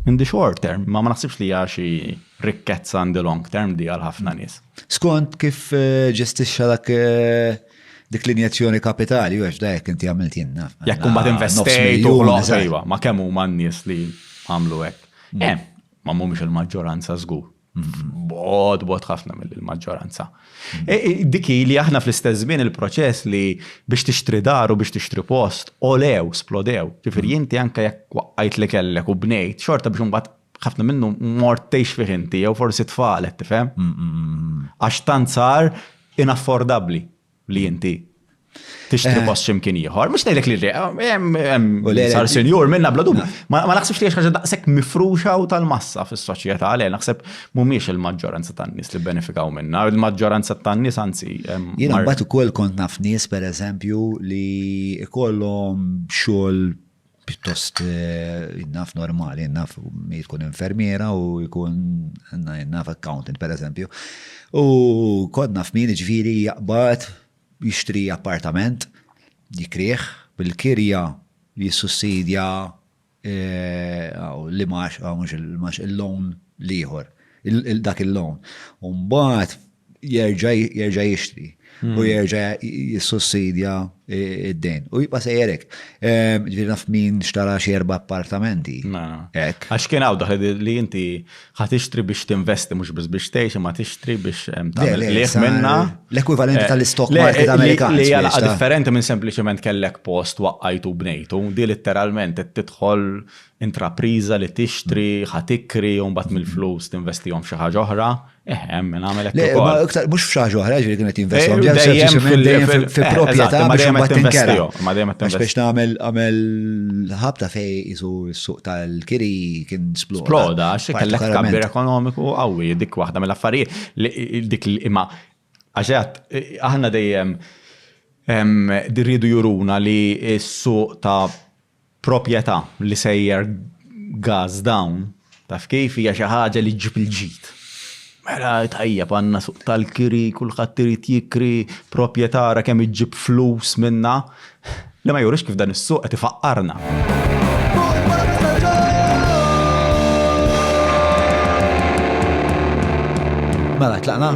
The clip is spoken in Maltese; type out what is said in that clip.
In the short term, ma ma naħsibx li hija xi rikkezza in the long term di għal ħafna nies. Skont kif eh, ġestixxa dak eh, dik l-injezzjoni kapitali, u għax dajk inti għamilt jenna. Jekk kumbat ah, investejt u ħloq sejwa, ma kemm huma n-nies li għamlu hekk. Mm. Eh, ma mhumiex il-maġġoranza żgur. Bod, bod ħafna mill-maġġoranza. Mm. E, e, diki li aħna fl-istess żmien il-proċess li biex tixtri dar u biex tixtri post, olew, splodew. Ġifieri mm. inti anke jekk waqqajt li kellek u bnejt, xorta biex imbagħad ħafna minnu mort tgħix fih inti jew forsi tfalet tifhem. Mm, Għax tant sar inaffordabbli. li inti tixtri eh. post ximkien ieħor. Mhux ngħidlek li hemm sar senjur minna bla dubju. Eh. Ma naħsibx li ħaġa daqshekk mifruxa u tal-massa fis-soċjetà għalej naħseb mhumiex il-maġġoranza tan-nies li benefikaw minna, il-maġġoranza tan-nies anzi. Jiena mbagħad ukoll kont naf nies pereżempju li ikollhom xogħol pjuttost naf normali, naf mi tkun infermiera u jkun naf accountant per eżempju. U kod naf min ġviri jaqbad jixtri appartament, jikrieħ bil-kirja jissussidja li max, max il-loan liħor, dak il-loan. Umbat, jerġa' jerġa' jixtri u jerġa' jissussidja id-dejn. U jibqa' sejjer hekk. Ġifieri naf min xtara xi erba' appartamenti. Hekk. Għax kien hawn dak li inti ħa tixtri biex tinvesti mhux biss biex tgħix imma tixtri biex tagħmel qligħ minnha. L-ekwivalenti tal-istock market Amerikan. Li hija laqgħa differenti minn sempliċement kellek post waqqajtu u bnejtu. Din litteralment qed tidħol intrapriża li tixtri, ħa tikri u mbagħad mill-flus tinvestihom f'xi ħaġa oħra. Eħem, minn għamel Le, ma iktar, mux fxaġ uħra ġiri kienet jinvestijom. Dejjem fil-propieta, ma dejjem għat investijom. Ma dejjem għat investijom. Biex namel għamel ħabta fej jisu s-suq tal-kiri kien sploda. Sploda, xe kellek kabbir ekonomiku għawi, dik wahda mill-affarijiet, dik imma għaxħat, aħna dejjem dirridu juruna li s-suq ta' proprjetà li sejjer gas dawn, taf kif, hija xi ħaġa li ġġib il-ġid. Mela tajjeb għandna suq tal-kiri, kulħadd irid jikri, proprjetà ara kemm iġġib flus minnha. Li ma jurix kif dan is-suq qed ifaqqarna. Mela tlaqna?